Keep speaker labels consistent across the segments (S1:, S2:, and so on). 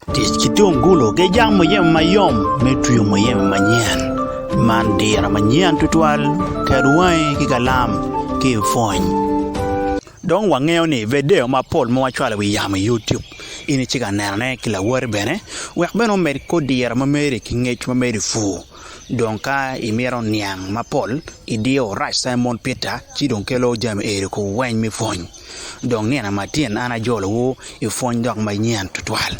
S1: Tic ki tungulu ki jang muyeme mayom me twio muyeme manyen. Man diro manyen tutwal, ket wangi ki kalam ki ipwony. Dong wangeyo ni vedio mapol ma wacwalo wi yamo i YouTube in icika nenone ki lawoti bene wek bene omed kor diro ma meri ki ngec ma meri pur. Dong ka imito niang mapol idiyo Right Simon Peter ci dong kelo jami eri ku weny me pwony. Dong nino ma tyen an ajolowu i pwony dok ma nyen tutwal.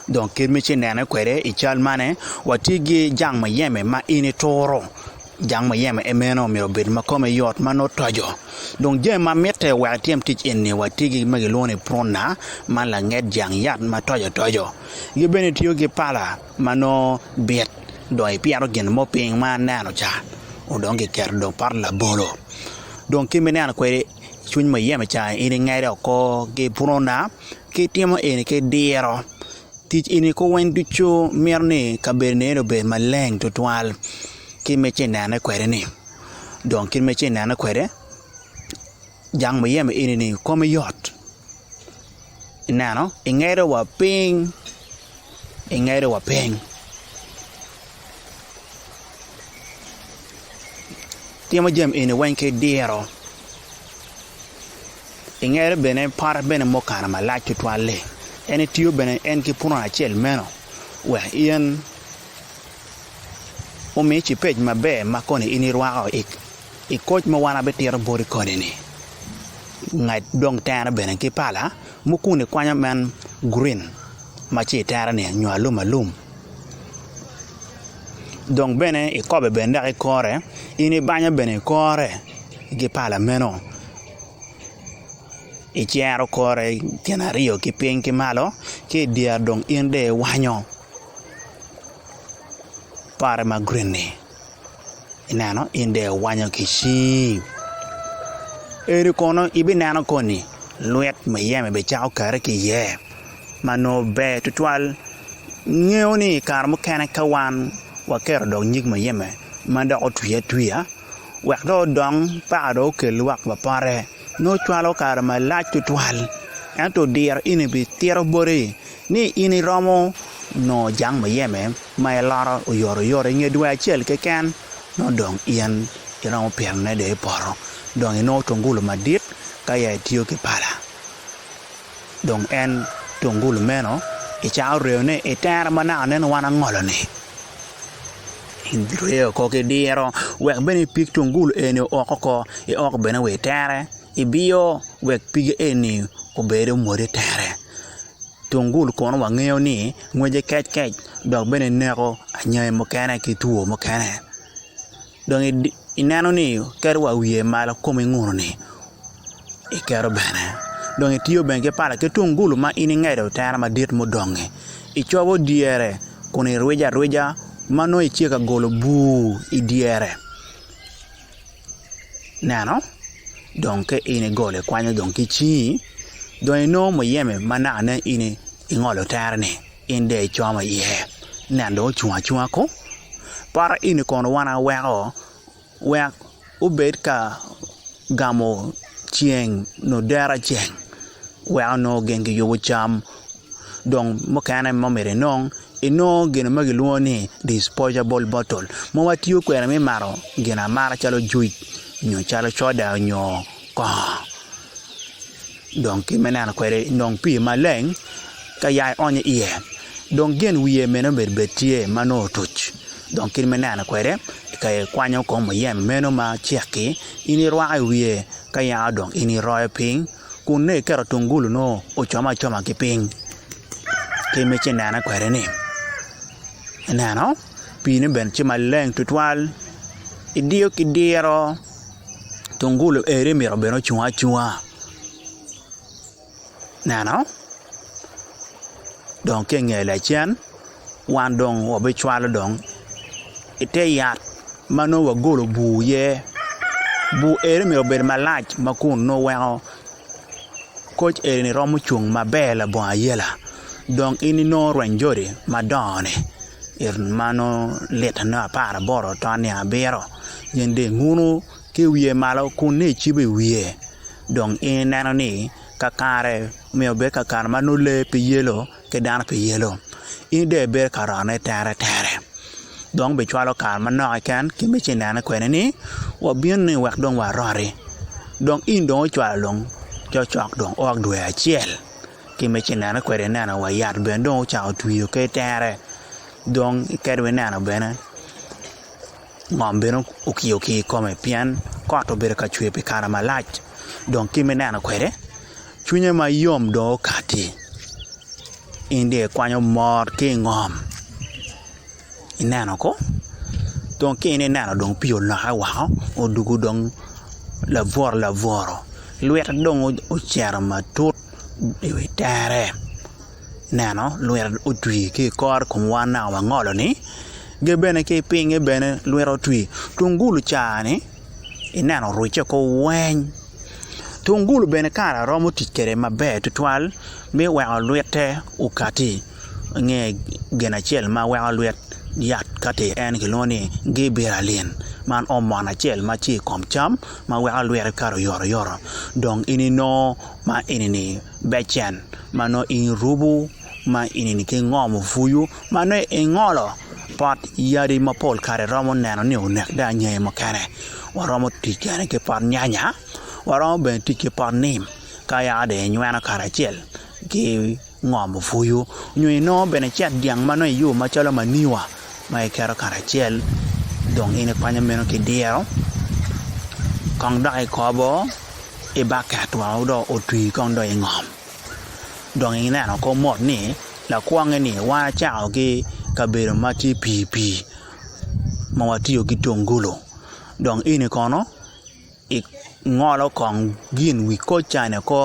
S1: Dong kit ma inene kwede i cal mane, watye ki jang muyeme ma in ituro. Jang muyeme en meno myero obed ma kome yot ma nongo toco. Dong jami ma mitte wek itim tic eni watye ki gin ma kilwongo ni pruna ma langet jang yat ma toco toco. Ki bene itiyo ki pala ma nongo bit dong ipyero gin mo piny ma aneno ca dong kiketo dong pot labolo dong kit ma ineno kwede. cwiny muyeme ca in ingede oko ki pwona ki itimo eni ki diro tic eni ko weng ducu mito ni kabedoni eni obed maleng tutwal kit ma itye ka nene kwede ni dong kit ma itye ka nene kwede jang muyeme eni kome yot. Ineno? Ingedo wa piny. Ingedo wa piny. Timo jami eni weng ki diro. Ingedo bene pote bene mukano malac tutwal-li. En etiyo bene en ki punu acel meno wek in omi cipec maber ma koni in irwako i I koc ma wan abitito boti koni-ni, nged dong tere bene ki pala mukun i kwanyo men gurin ma ci itere-ni nyo alum alum. Dong bene ikobe bene dok ikore, in ibanyo bene ikore ki pala meno, icero kore gin aryo ki piny ki malo, ki i dyere dong in dong iwanyo pare ma gurin-ni. Ineno, in dong iwanyo ki cii. Eni kono ibineno koni lwit muyeme bicako kare ki iye ma nongo ber tutwal. Ingeyo ni i kare mukene ka wan waketo dog nyig muyeme ma dok otwi atwiya wek dong odong paka dong okel lwak ma pote. nongo cwalo kare malac tutwal, ento diro in ibitito boti ni in iromo nongo jang muyeme ma iloro oyotoyot i nge dwe acel keken, nongo dong in iromo pirone dong i poto dong inongo tungulu madit ka ya itiyo ki pala. Dong en tungulu meno i can oreyo ni, I tere ma naka aneno wan angolo-ni, in bireyo oko ki diro wek bene ipig tungulu eni o oko i oko bene wa i tere, ibiyo wek pige eni obed omwod i tere. Tungulu kono wangeyo ni ngwece kec kec dok bene neko anyangi mukene ki two mukene. Dong ineno ni iketo wa wiye malo kom ingununi iketo bene dong itiyo bene ki pala ki tungulu ma in ingedo tere madit mudongi icobo dyere kun irwijo arwija ma nongo itye ka golo bur idyere ineno dong ka in igolo ikwanyo dong ki cingi dong inongo muyeme ma nakane in ingolo tere-ni. In dong icomo iye nen dong ocung acunga ko poto eni kono wan aweko wek obed ka gamo ceng nyo dero ceng weko nongo ogeng ki yubo cam dong mukene ma myero inong inongo gin ma kilwongo ni disposable bottle ma watiyo kwede me mato gin amata calo juic nyo calo coda nyo kongo. Dong kit me neno kwede, inong pii maleng ka ya ionyo iye, dong gen wiye meno bene bed tye ma nongo otuc. Dong kit me neno kwede, ka ikwanyo kom muyeme meno ma cek-ki, in irwako i wiye, ka ya dong in iroyo piny, kun nongo iketo tungulu nongo ocom acoma ki piny. Kit ma ice nene kwede-ni, ineno, piine bene tye maleng tutwal, idiyo ki diro. tungulu eni myero obed ocung acunga neno dong ki inge lacen wan dong wabicwalo dong ite yat ma nongo wagolo bur iye bur eni myero obed malac ma kun nongo weko koc eni romo cung maber labongo ayela dong in inongo rwenyo jodi madongo-ni. it ma nongo lit ma nongo apar aboro to oniang abiro gin dong inguno ki i wiye malo kun nongo icibo i wiye dong in ineno ni kakare myero obed kakare ma nongo lee pe yelo ki dano pe yelo in dong ibedo ka rone teretere dong bicwalo kare manok keken ki me ci nene kwede ni wabino ni wek dong waroti dong in dong ocwalo dong cokcok dong o dwe acel ki me cinene kwede ineno wa yat bene dong ocako otwi ki itere dong iketo wa ineno bene ngom bene okiyo okiyo i kome pien kot obedo ka cwer pi kare malac dong kit ma ineno kwede cwinye ma yom dong okati in dong ikwanyo mor ki ingom. ineno ko dong ka in ineno dong pii olokke woko odwogo dong labworo labworo lwite dong ocito matut i wi tere ineno lwite otwi ki i kor kom wan naka wangolo-ni ki bene ki pinye bene lwite otwi tungulu ca ni ineno orujje oko weng tungulu bene kare romo tic kwede maber tutwal me weko lwite okati. Nge gin acel ma weko lwit yat kati en kilwongo ni gibiralin man omon acel ma tye i kom cam ma weko lwite kato oyotoyot dong in inongo ma enini becen ma nongo in irubu ma enini ki ngomo pwonyu ma nongo ingolo pot yadi mapol kare iromo neno ni onek dong ange mukene waromo tic bene ki pot nyanya waromo bene tic ki pot nim ka yaka dong inyweno kacel ki ngom opwoyo, nyo inongo bene cet dyang ma nongo iyubo macalo manyiwa ma iketo karacel dong in ikwanyo meno ki diro kong dok ikobo i baket wa ma dong otwi kong dong ingom dong ineno kong mot ni lakwongi ni wan acako ki kabedo ma tye pii pii ma watiyo ki tungulu dong eni kono Ingolo kong gin wi koccane oko,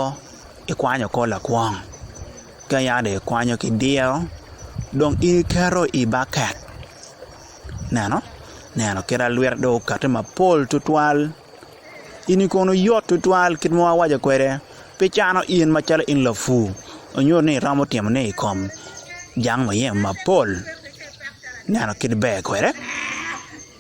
S1: ikwanyo kor lakwong. Ka yam dong ikwanyo ki diro, dong in iketo i baket. Ineno? Ineno kit ma lwite dong okate mapol twatwal. Eni kono yot twatwal kit ma awaco kwede, pe cano in macalo in lapur ma nyuto ni iromo timo ne i kom jang muyemo mapol. Ineno kit ma ber kwede?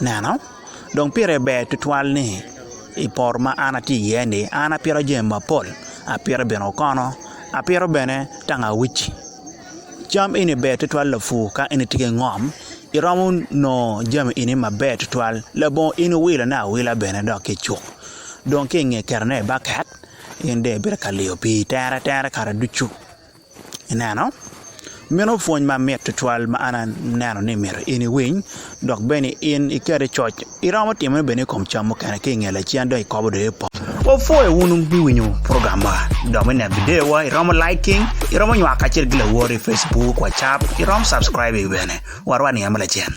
S1: Neno, dong pire ber twatwal ni i poto ma an atye iye-ni, an apito jami mapol, apito bene okono, apito bene tangawici. Cam eni ber twatwal lapur ka in itye ki ngom, iromo nongo jami eni maber twatwal. Labongo in iwilone awila bene dok ki i cuk, dong ki i nge ketone i baket, in dong ibino ka liyo pii tere tere kare ducu. Ineno? Meno pwony mamit tutwal ma an aneno ni myero in iwiny, dok bene in iket i coc. Iromo timone bene i kom cam mukene ki i nge lacen dong ikobo dong i pol. Wapwoyo wun pi winyo program ma. Dok me neno bideowa, iromo liking, iromo nywako kacel ki lawor i Facebook, WhatsApp, iromo subscribing bene. Warwa ni amo lacen.